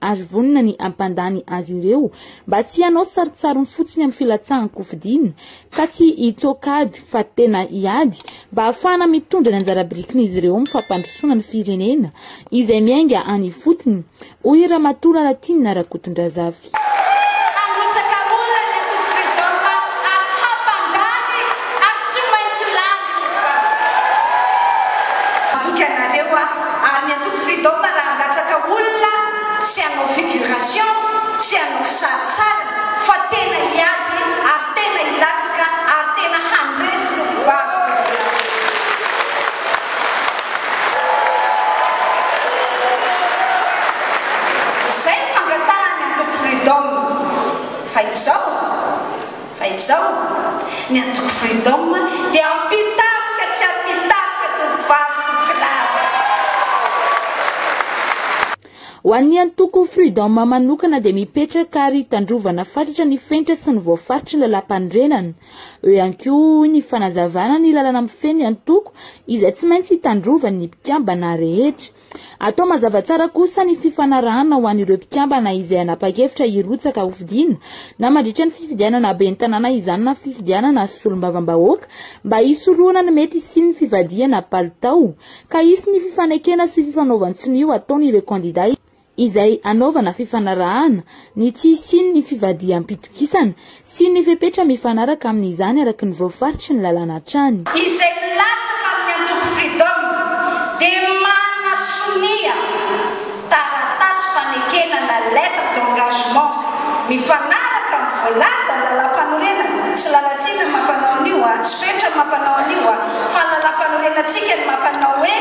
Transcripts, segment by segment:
ary vonona ny hampandany azy ireo mba tsy hanao sarintsariny fotsiny amin'ny filatsahan-kofidina ka tsy hitoaka ady fa tena hiady mba hahafahana mitondra ny anjara birikin'izy ireo amin'ny fampandrosoana ny firenena izay miainga any ifotony, hoy Ramatoa Lalatiana Rakotondrazafy. Ary tsy maintsy lany ny vazo. Matoky anareo aho ary ny antoko freedom raha handatsaka olona tsy hanao figuration, tsy hanao kisarisarina fa tena hiady ary tena hilatsaka ary tena handresy no voazo teto Belarus. Izay no fangatahan'ny antoko freedom fa izao. Fa izao, ny antoko Freedom dia ampitarika tsy ampitarika tompovaly sy tompondahy. Ho an'ny antoko Freedom manokana dia mipetraka ary hitandrovana fatratra ny fenitra sy ny voafaritry ny Lalàmpanorenana. Eo ihany koa ny fanazavana ny lalana mifehy ny antoko izay tsy maintsy hitandrovan'ny mpikambana rehetra. Atao mazava tsara kosa ny fifanarahana ho an'ireo mpikambana izay hanapa-kevitra hirotsaka hofidiana na mandritra ny fifidianana ben'ny tanàna izany na fifidianana solombavambahoaka mba hisorohana ny mety hisian'ny fivadihana palitao ka hisy ny fifanekena sy fifanaovan-tsonia ataon'ireo kandida izay hanaovana fifanarahana ny tsy hisian'ny fivadiham-pitokisana Sy ny fepetra mifanaraka amin'izany araka ny voafaritry ny lalàna hatrany. Izay milatsaka amin'ny antoko Freedom dia manana sonia, taratasy fanekena na lettre d'engagement, mifanaraka amin'ny voalazan'ny lalàmpanorenana, tsy lalantsika ny mampanao an'io a, tsy fetra ny mampanao an'io a, fa ny lalàmpanorenantsika no mampanao hoe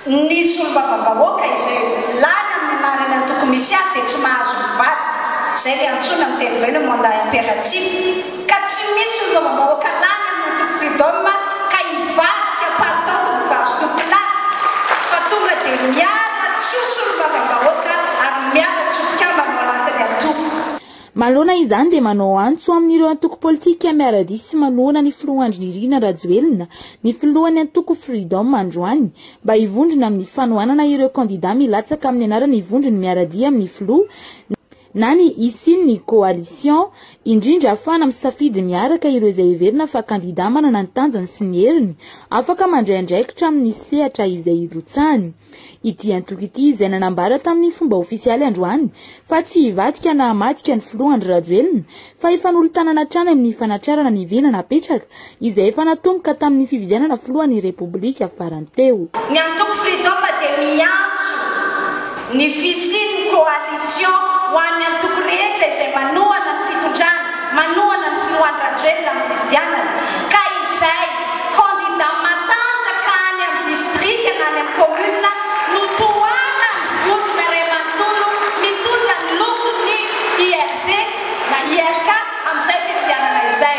Ny solombavambahoaka izay lany amin'ny marina antoko misy azy dia tsy mahazo mivadika. Izay ilay antsoina amin'ny teny vahiny hoe mandat imperatif. Ka tsy misy solombavambahoaka lany amin'ny antoko Freedom ka hivadika paritao tompovazotompoko lany fa tonga dia miala tsy ho solombavambahoaka ary miala tsy ho mpikambana ao anatin'ny antoko. Manoloana izany dia manao antso amin'ireo antoko politika miara-dia sy manohana ny filoha Andry Nirina Rajoelina ny filohan'ny antoko Freedom androany mba hivondrona amin'ny fanohanana ireo kandida milatsaka amin'ny anaran'ny vondrony miara-dia amin'ny filoha na ny hisian'ny coalition indrindra afahana misafidy miaraka ireo izay heverina fa kandida manana ny tanjany sy ny heriny afaka mandray andraikitra amin'ny sehatra izay hirotsahany. Ity antoko ity izay nanambara tamin'ny fomba ofisialy androany fa tsy hivadika na hamadika ny filoha Andry Rajoelina fa hifanolo-tanana hatrany amin'ny fanatrarana ny vina napetraka izay efa natomboka tamin'ny fifidianana filohan'ny Repoblika farany teo. Ny antoko Freedom dia miantso ny fisian'ny coalition ho an'ny antoko rehetra izay manohana ny fitondrana. manohana ny filohan'i Rajoelina amin'ny fifidianana ka izay kandida matanjaka any amin'ny distrika na any amin'ny commune no tohanan'ny vondrona iray manontolo mitondra ny lokon'ny IRD na IRK amin'izay fifidianana izay.